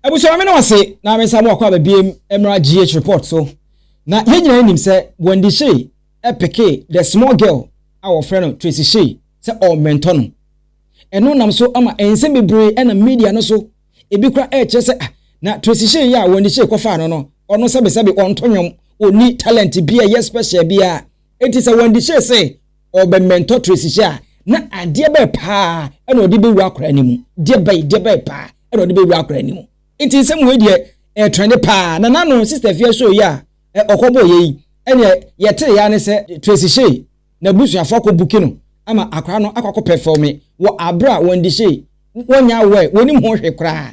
Abusua meda mo ase na me nsa mo akɔ aba biam mmra GH report so na yɛn nyinaa nim sɛ Wendy Shey pekee the small girl a wɔfrɛ no Tracy Shey sɛ ɔmmɛntɔ no ɛno nam so ama nsɛm bebree ɛnam media no so ebi kora ɛkyerɛ sɛ ah na Tracy Shey yi a Wendy Shey kɔfaa no no ɔno sɛbesɛbe ɔnto nwom ɔnni talent bi a ɛyɛ special biara enti sɛ Wendy Shey se ɔrebɛmɛntɔ Tracy hyɛ a, na adeɛ bɛɛ paa na ɔde bɛwura akwadaa no mu? Deɛ bɛn, deɛ bɛn paa na ɔde bɛwura akwadaa no mu? Nti nsɛm wei deɛ ɛretrɛnde paa. Na n'ano Sister Afia show yi a ɔkɔbɔeɛ yi, ɛnneɛ yɛteeɛ ara ne sɛ Tracy Shay n'abusuafoɔ akɔ buki no ama akwadaa no akɔ akɔpɛfɔɔme wɔ aberɛ a Wendy Shay wɔnyɛ aware, wɔnnim ho hwee koraa.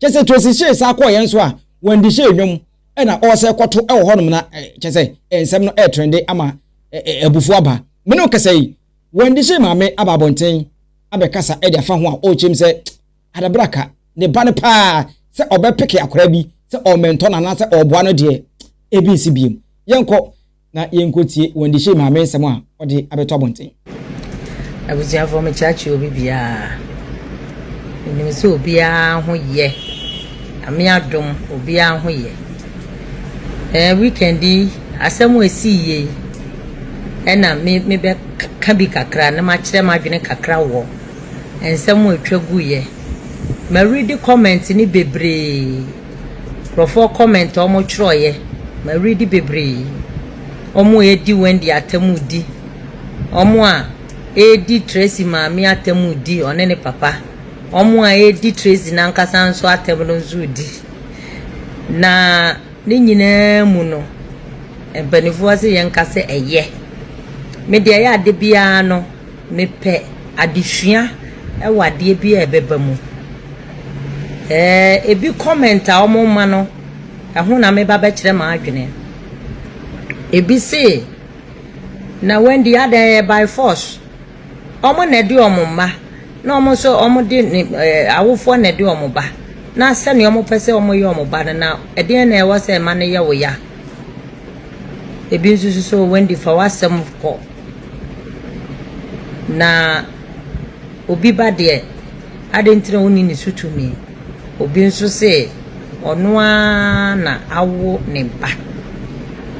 kyɛ sɛ tosi hyee saa kɔɔ yɛn so a wɔn de hyee nnwom ɛna ɔsɛ kɔto ɛwɔ hɔnom na kyɛ sɛ nsɛm no ɛɛtrɛnde ama abufuo aba mene ɔkasa yi wɔn de hyee maame aba abɔnten abɛkasa ɛde afa ho a ɔkyɛm sɛ adabraka ne ba no paa sɛ ɔbɛpeke akora bi sɛ ɔmɛntɔ no anaasɛ ɔboa no deɛ ebi nsi biem yɛnkɔ na yɛnkɔtie Wendy Shea Maame nsɛm a ɔde abɛto abɔnten. Abusuafoɔ mekyeakyea obi biara. Menim sɛ obiara ho yɛ. Ame adom obiara ho yɛ. Eh, weekend yi asɛm a ɛsii yie yi ɛna me mebɛka bi kakra na makyerɛ m'adwene kakra wɔ nsɛm a ɛtwa guiɛ. Maredi comment ne bebree. Nkurɔfoɔ comment a wɔn twerɛeɛ ma readi bebree wɔn a ɛredi Wendy atamu di wɔn a ɛredi Tracy maame atamu di ɔne ne papa wɔn a ɛredi Tracy nankasa nso atamu no nso di na ne nyinaa mu no mpanimfoɔ sɛ yɛn nka sɛ ɛyɛ me deɛ ɛyɛ ade biara no. Mepɛ adesua wɔ adeɛ bi a ɛbɛba mu. Ɛɛ ebi comment a wɔn ma no ɛho na meba bɛkyerɛ m'adwene. Ebi se na Wendy adɛn ɛyɛ by force. Wɔn na ɛde wɔn mma na wɔn nso wɔn de ne ɛɛ awofoɔ na ɛde wɔn ba na sɛnea wɔn pɛ sɛ wɔn yɛ wɔn ba no na ɛdeɛn na ɛwɔ sɛ ɛma no yɛ wo ya. Ebi nso so sɛ Wendy fa w'asɛm kɔ. Na obi ba deɛ, adɛn nti na wonni ne so tumi? Obi nso se, Ɔno ara na awo ne ba.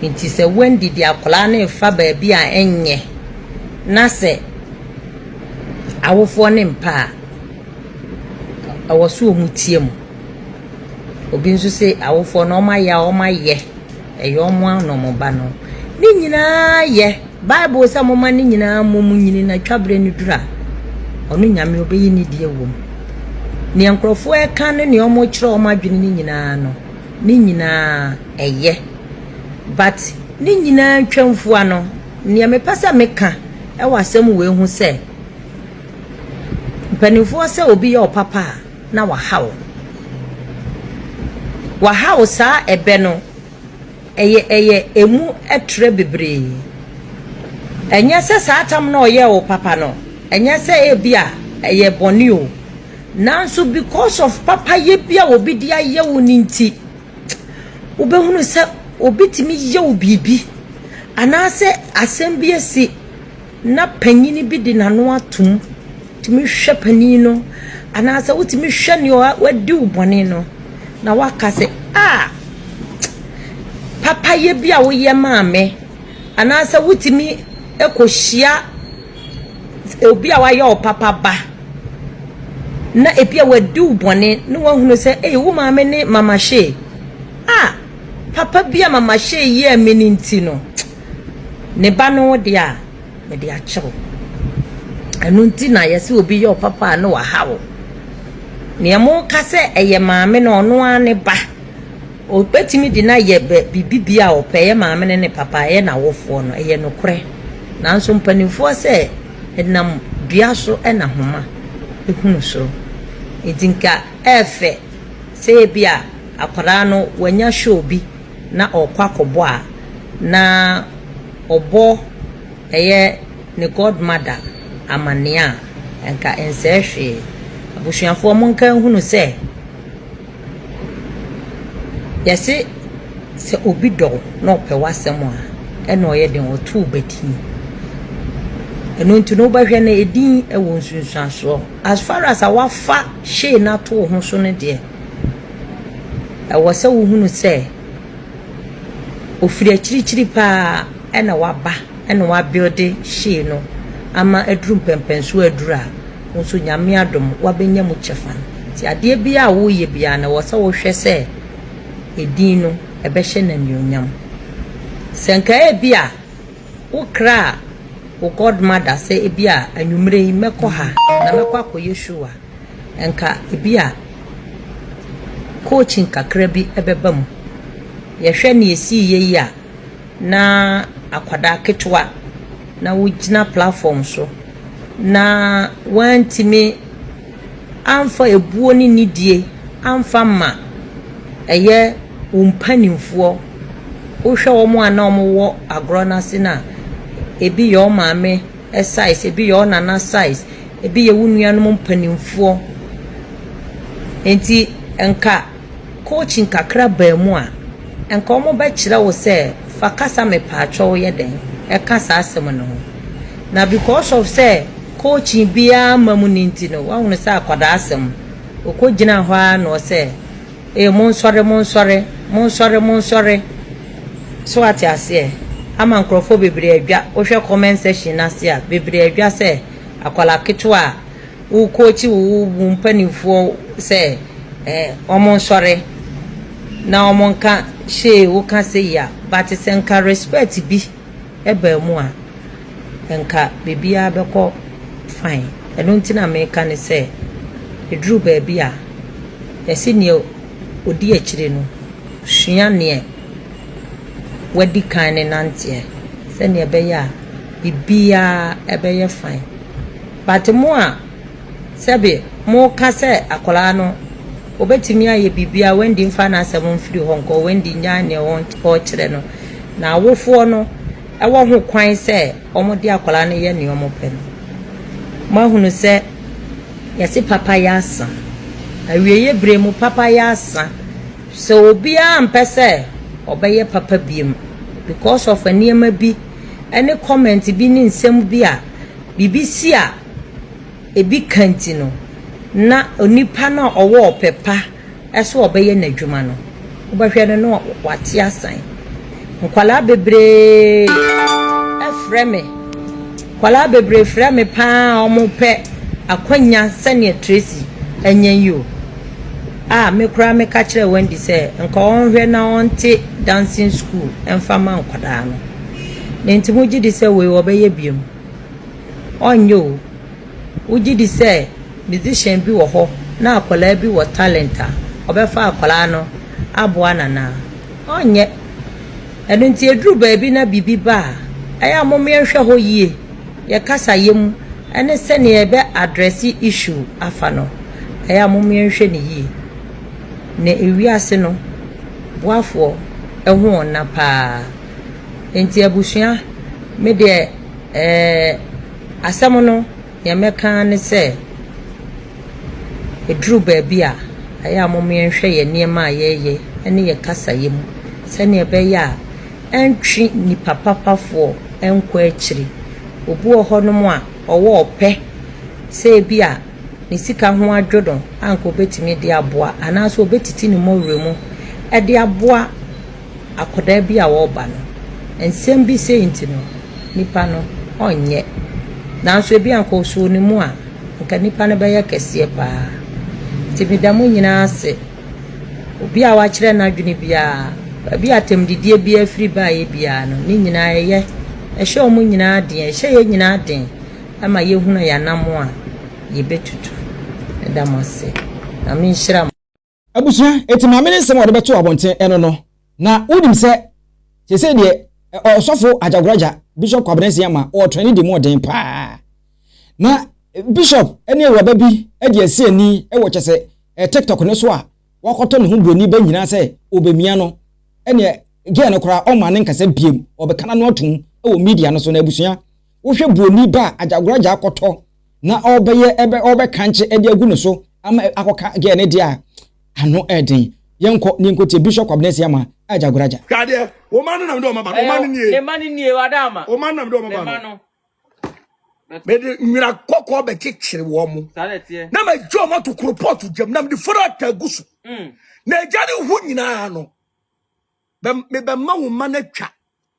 Enti sɛ Wendy de akwadaa no refa baabi a ɛnyɛ na sɛ awofoɔ no mpɛ a, ɛwɔ sɛ wɔteam. Obi nso se, Awofoɔ no, wɔayɛ a wɔayɛ. Ɛyɛ wɔn ara na wɔba no. Ne nyinaa yɛ. Bible sɛ momma ne nyinaa mmom nyini na twaberɛ no duru a, ɔno Nyame ɔbɛyi ne deɛ wɔ mu. Neɛ nkurɔfoɔ reka ne neɛ wɔkyerɛ wɔn adwene no nyinaa no, ne nyinaa ɛyɛ. But ne nyinaa ntwamfua no, neɛ mepɛ sɛ meka wɔ asɛm wei ho sɛ, mpanimfoɔ sɛ obi yɛ wo papa a, na wahaw. Wahaw saa ɛbɛ no, ɛyɛ ɛyɛ ɛmu ɛtrɛ bebree. Ɛnyɛ sɛ saa tam no a ɔyɛɛ wo papa no, ɛnyɛ sɛ ebi a ɛyɛ bɔne o, nanso because of papayɛ bi a obi de ayɛ wo no nti, wobɛhunu sɛ obi tumi yɛ wo biribi anaasɛ asɛm bi asi. na panyin bi de n'ano ato mu tumi hwɛ panin no anaasɛ wotumi hwɛ nea wadi wo bɔne no, na woaka sɛ, a papayɛ bi a woyɛ maa me anaasɛ wotumi kɔhyia obi a wayɛ wo papa ba na ebi a wadi wo bɔne na woahunu sɛ, ei wo maame ne mama hyee a papa bi a mama hyee yɛɛ me no nti no. Ne ba no wo deɛ a, mede akyɛ wo. Ɛno nti na yɛsɛ obi yɛ wo papa a na waha wo. Nea moka sɛ ɛyɛ maame no ɔno ara ne ba. Obetumi de no ayɛ biribi bi a ɔpɛ, ɛyɛ maame no ne papa, ɛyɛ n'awofoɔ no, ɛyɛ nokorɛ. Nanso mpanimfoɔ sɛ ɛnam dua so na homa hunu so. Nti nka ɛɛfɛ sɛ ebi a akwadaa no wanya show bi. na ɔkɔ akɔbɔ a, na ɔbɔ ɛyɛ ne godmother amanneɛ a, anka ɛnsɛe hwee. Abusuafoɔ monka nhunu sɛ, yɛse sɛ obi dɔ wo na ɔpɛ w'asɛm a, ɛna ɔyɛ den, ɔto wo badin. Ɛno nti no, wobɛhwɛ no, edin wɔ nsunsuansoɔ. As far as a wafa hyee no ato wo ho so no deɛ, Ɛwɔ sɛ wohunu sɛ ɔfiri akyirikyiri pa ara na waba na wabuilde hyee no ama aduru mpɛnpɛnsoɔ aduru a, wo nso Nyame adom wabɛnya mu kyɛfa. Nti adeɛ biara a woreyɛ biara no, ɛwɔ sɛ wohwɛ sɛ edin no, ɛbɛhyɛ no anuonyam. Sɛ nka ebi a, wokraa wo godmother sɛ ebi a anwumerɛ yi mɛkɔ ha na mɛkɔ akɔyɛ show a, Anka ebia coaching kakra bi bɛba mu. Yɛhwɛ nea esiiɛ yi a, na akwadaa ketewa na wogyina platform so, na wɔantumi amfa ebuo ne nidie amfa amma ɛyɛ wo mpanimfoɔ. Wohwɛ wɔn a na wɔwɔ agorɔ no ase no a, ebi yɛ wɔn maame, size, ebi yɛ wo nana size, ebi yɛ wo nuanom mpanimfoɔ. Enti nka coaching kakra baa mu a, nka wɔbɛkyerɛ wo sɛ fa kasa mepaakyɛw yɛ dɛn ka saa asɛm no ho. Na because of sɛ coaching biara mma mu no nti no, woahunu sɛ akwadaa asɛm, ɔkɔgyinaa hɔ ara na ɔsɛ Ee, monsɔre, monsɔre, monsɔre, monsɔre. So wate aseɛ? Ama nkorɔfoɔ bebree adwa. Wohwɛ comment section no ase a, bebree adwa sɛ akwadaa ketewa a wo coach wo wo mpanimfoɔ sɛ eh, wɔnsɔre na wɔnka hyee woka sei a, but sɛ nka respect bi. baa mu a, anka biribiara bɛkɔ fine. Ɛno nti na meka ne sɛ, ɛduru baabi a, yɛse neɛ ɔdi akyire no sua neɛ wadi kan no nanteɛ sɛdeɛ ɛbɛyɛ a biribiara bɛyɛ fine. But mo a Sɛbe moka sɛ akwadaa no, obetumi ayɛ biribiara, Wendy mfa n'asɛm mfiri hɔ nkɔ, Wendy nnyae nea ɔrekyerɛ no, na awofoɔ no wɔ ho kwan sɛ wɔde akwadaa no yɛ nea wɔpɛ no. Moahunu sɛ yɛse papa yɛ asa. Awieeɛ berɛ mu papa yɛ asa. Sɛ obiara ampɛ sɛ ɔbɛyɛ papa biom because of nneɛma bi ne comment bi ne nsɛm bi a biribi si a, ebi ka nti no, na onipa no a ɔwɔ ɔpɛ pa sɛ ɔbɛyɛ n'adwuma no, wobɛhwɛ no na wate asan. Nkwadaa bebree frɛ me, nkwadaa bebree frɛ me pa ara a wɔpɛ akwannya sɛdeɛ Tracy anya yi o. A me koraa meka kyerɛɛ Wendy sɛ nka ɔnhwɛ na ɔnte dancing school mfa ma nkwadaa no. Nti mogye di sɛ wei wɔbɛyɛ bio? Ɔnyɛ o. Wogye di sɛ musician bi wɔ hɔ na akwadaa bi wɔ talent a, ɔbɛfa akwadaa no aboa no anaa? Ɔnyɛ. Ɛno nti ɛduru baabi na biribi ba a, ɛyɛ a mom yɛnhwɛ hɔ yie, yɛ kasayɛ mu ne sɛdeɛ yɛbɛ address issue afa no, ɛyɛ a mom yɛnhwɛ no yie. Na ewiase no boafoɔ ho nna paa. Nti abusua, me deɛ. Ɛɛ, asɛm no, nea mɛka ara ne sɛ, ɛduru baabi a, ɛyɛ a momma yɛnhwɛ yɛn nneɛma a yɛyɛ ne yɛn kasayɛ mu sɛnea ɛbɛyɛ a ɛntwe nnipa papafoɔ nkɔ akyiri. Obi wɔ hɔnom a, ɔwɔ ɔpɛ sɛ ebi a ne sika ho adwo no a anka ɔbɛtumi de aboa, anaasɛ ɔbɛtiti ne mmɔwerɛ mu de aboa akwadaa bi a ɔreba no, nsɛm bi sei nti no, nipa no ɔnyɛ. Nanso ebi a nka ɔsɔɔ ne mu a, nka nipa no bɛyɛ kɛseɛ paa. Nti meda mo nyinaa ase. Obi a wakyerɛ n'adwene biara, baabi a atɛmdidie biara firi baeɛ biara no, ne nyinaa ɛyɛ. Ɛhyɛ wɔn nyinaa den, ɛhyɛ yɛn nyinaa den ma yɛhunu yɛn anammɔn a yɛbɛtutu. Meda mo ase. Nyame nhyira mo. Abusua, enti maame ne nsɛm a ɔde bɛtoo abɔnten ɛno no, na wonim sɛ seesei deɛ ɛ, ɔsɔfo Agyagoragya, Bishop Kwabena Nsia ma ɔɔtra ne di mu ɔden paa. Na Bishop ne awuraba bi adi asi ani wɔ kyɛ sɛ ɛ, TikTok no so a wakɔtɔ ne ho buroni ba nyinaa sɛ ɔbɛmia no, ɛneɛ girl no koraa ɔmmaa ne nkasa biom, ɔbɛka n'ano atom wɔ media no so. Na abusua, Wohwɛ buroni ba a agyagoragya akɔtɔ na ɔrebɛyɛ ɛbɛ ɔrebɛkankye ɛde agu ne so ama akɔka girl no deɛ a, ano ɛɛden. Yɛnkɔ na yɛnkɔtie Bishop Kwabena Asiamah agyagoragya. Hwɛ adeɛ, wo mma no na mede wɔn aba no, wo mma no nie, ne mma no nie, wada ama, wo mma no na mede wɔn aba no, no mede nwera kɔkɔɔ bɛkyekyere wɔn, saa na ɛteɛ, na magye wɔn ato koropɔɔto gyam, na mede frata agu so, mm. na agya ne ho nyinaa no, bɛ, mebɛma wo mma no atwa.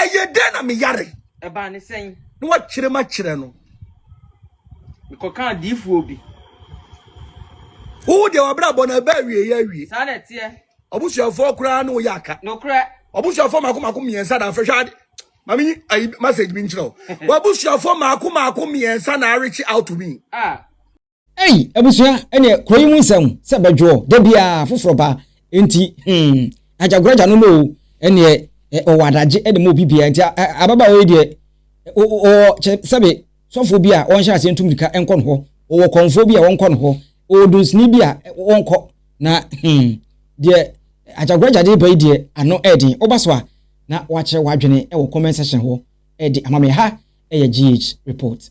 ɛyɛ dɛn na meyare ɛbaa ne sɛn na wakyerɛ ma kyerɛ no mekɔka adiifoɔ bi wo deɛ wabrabɔ no ɛbɛ awie yɛ awie saa na ɛteɛ ɔbusuafoɔ koraa ne woyɛ aka nokorɛ ɔbusuafoɔ maako maako mmiɛnsa na afɛ hwɛ ade maame yi ayi message bi nkyerɛ wo wabusuafoɔ maako maako mmiɛnsa na arekye out me a Ei abusua ɛneɛ kuro yi mu nsɛm sɛ bɛdwoɔ dabiaa foforɔ ba nti hmm agyagoragya no no o ɛneɛ ɔwɔ adagye de ma obi biaa nti ababaawa yi deɛ ɔwɔ kyɛ sɛbe sɔfoɔ bi a ɔnhyɛ aseɛ ntu mirika nkɔ no hɔ ɔwɔ kɔnfoɔ bi a ɔnkɔ no hɔ ɔwɔ dunsini bi a ɔnkɔ na hmm deɛ agyagoragya de ba yi deɛ ano ɛɛden ɔba so a na wakyerɛ wadwene wɔ comment section hɔ ɛde ama me ha ɛyɛ GH report.